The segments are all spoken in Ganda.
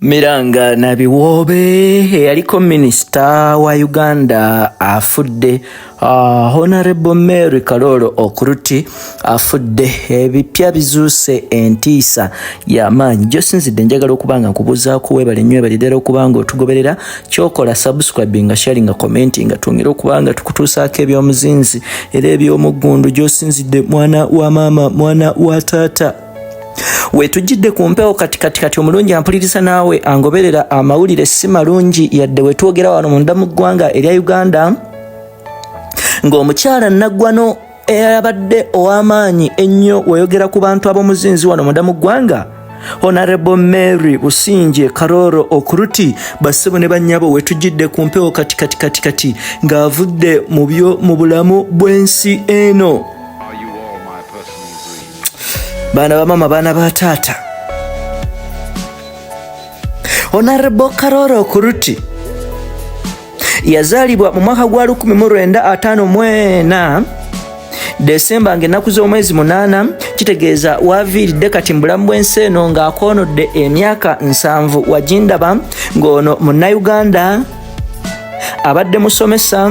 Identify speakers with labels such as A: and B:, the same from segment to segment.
A: Miranga Nabiwoobe eyaliko minisita wa Uganda afudde. Uh, Honorable Mary Kaloolo Okuruti afudde. Ebipya bizuuse entiisa y'amaanyi gyosinzidde njagala okuba nga nkubuuzaako weebale nnyo ebali ddala okuba nga otugoberera kyokola subscribe nga sharing nga commenti nga twongere okuba nga tukutuusaako ebyomuzinzi era eby'omuggundu gyosinzidde mwana wa maama mwana wa taata wetujjidde ku mpewo kati kati kati omulungi ampuliriza naawe angoberera amawulire si malungi yadde wetwogera wano munda mu ggwanga erya uganda ng'omukyala naggwano eyabadde ow'amaanyi ennyo weyogera ku bantu ab'omuzinzi wano munda mu ggwanga honarebo mary businje karoro okuruti bassebo ne bannyabo wetujjidde ku mpewo kati kati kati kati ng'avudde mu byo mu bulamu bw'ensi eno baana bamama baana ba taata onarebo karora okuruti yazaalibwa mu mwaka gwa 1954 desemba ng'ennaku z'omwezi munaana kitegeeza waviiridde kati mu bulamu bw'ensi eno ng'akoonodde emyaka nsanvu wagindaba ng'ono munnayuganda abadde musomesa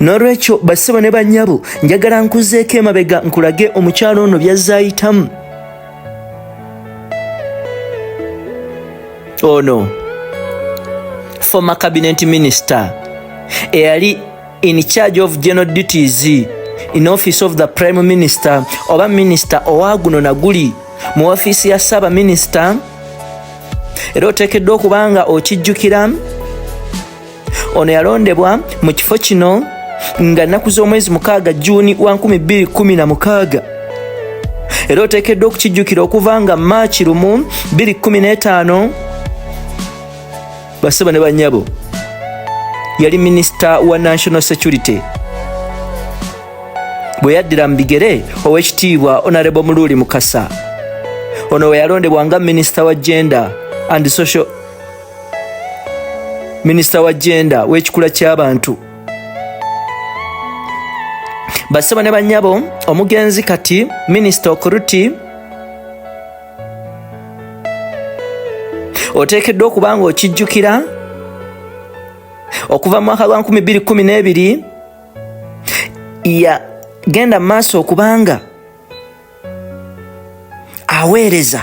A: n'olwekyo basebo ne bannyabo njagala nkuzeeko emabega nkulage omukyalo ono byazaayitamu ono former cabinet minister eyali in charge of general duties in office of the prime minister oba minister owaguno naguli mu ofiisi ya ssaaba minister era oteekeddwa okuba nga okijjukira ono yalondebwa mu kifo kino nga nnaku z'omwezi mukaaga juuni wa 216 era oteekeddwa okukijjukira okuva nga maaki lumu 215 basebo ne banyabo yali minisita wa national security bwe yaddira mu bigere ow'ekitiibwa onarebo muluuli mukasa ono we yalondebwa nga minisita wa gender and social minisita wa jenda w'ekikula ky'abantu basebo ne banyabo omugenzi kati minisita okuruti oteekeddwa okuba nga okijjukira okuva mu mwaka gwa 212 yagenda mu maaso okubanga aweereza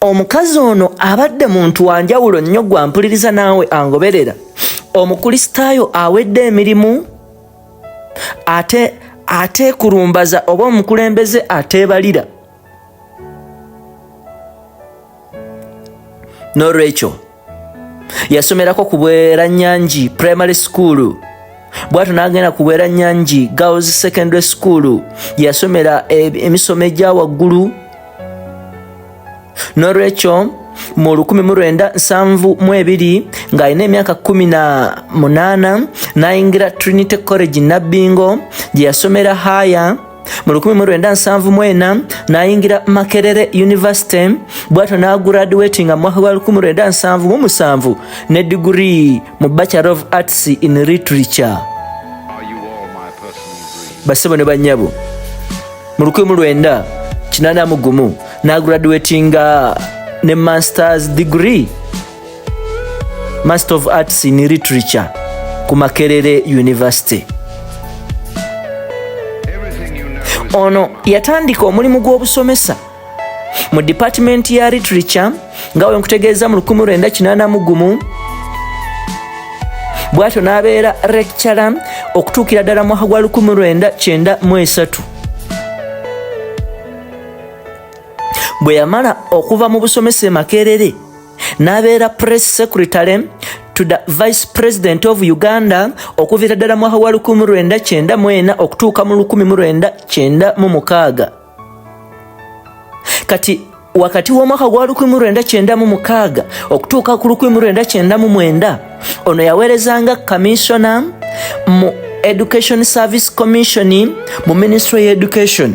A: omukazi ono abadde muntu wanjawulo nnyo gwampuliriza naawe angoberera omukristaayo awedde emirimu ate ateekulumbaza oba omukulembeze ateebalira n'olwekyo yasomerako ku bweranyangi primary school bwatu n'agenda ku bweranyangi girls secondary school yasomera e, emisomo egya waggulu nolwekyo mu 1972 ng'alina emyaka 18 n'ayingira trinity college nabbingo gye yasomera haya mu 1974 nayingira makerere university bwatyo naguradiwetinga mu mwaka gwa 1977 ne diguri mu bachelor of arts in literature basebo ne banyabo mu 1981 naguradiwetinga ne masters degree Master of Arts in Literature ku Makerere University. Ono yatandika omulimu gw'obusomesa mu Department ya Literature nga wenkutegeeza mu 1981 bwatyo n'abeera lecturer okutuukira ddala mwaka gwa 1993 bwe yamala okuva mu busomesa e Makerere n'abeera press secretary to the vice president of uganda okuviira ddala mwaha wa 1994 okutuuka mu 1996 kati wakati w'omwaka gwa 1996 okutuuka ku 1999 ono yaweerezanga kaminsona mu education service commission mu ministry ya education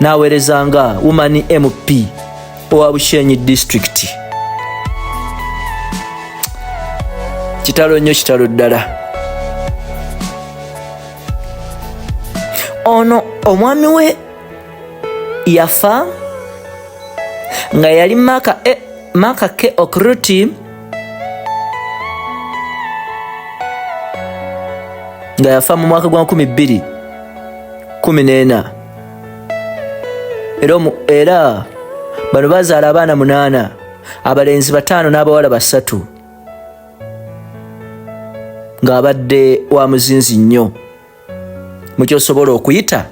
A: n'aweereza nga woman mp owa bushenyi disitulikiti kitalo nnyo kitalo ddala ono omwami we yafa nga yali maka e, maka ke okruti nga yafa mu mwaka gwa 214 era era bano bazaala abaana munaana abalenzi bataano n'abawala basatu ng'abadde wa muzinzi nnyo mukyosobola okuyita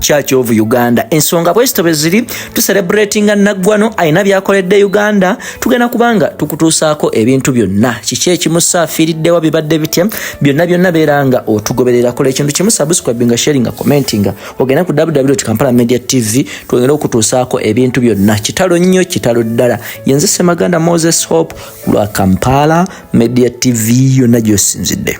A: church of uganda ensonga bwezito beziri tuserebratinga naggwano alina byakoledde uganda tugenda kubanga tukutuusaako ebintu byonna kiki ekimusaafiiriddewa bibadde bitya byonna byonna beeranga otugoberera kola ekintu kimu subscribinga sharinga commentinga ogenda ku ww kampala media tv twongere okutuusaako ebintu byonna kitalo nnyo kitalo ddala yenze semaganda moses hope lwa kampala media tv yonna gyosinzidde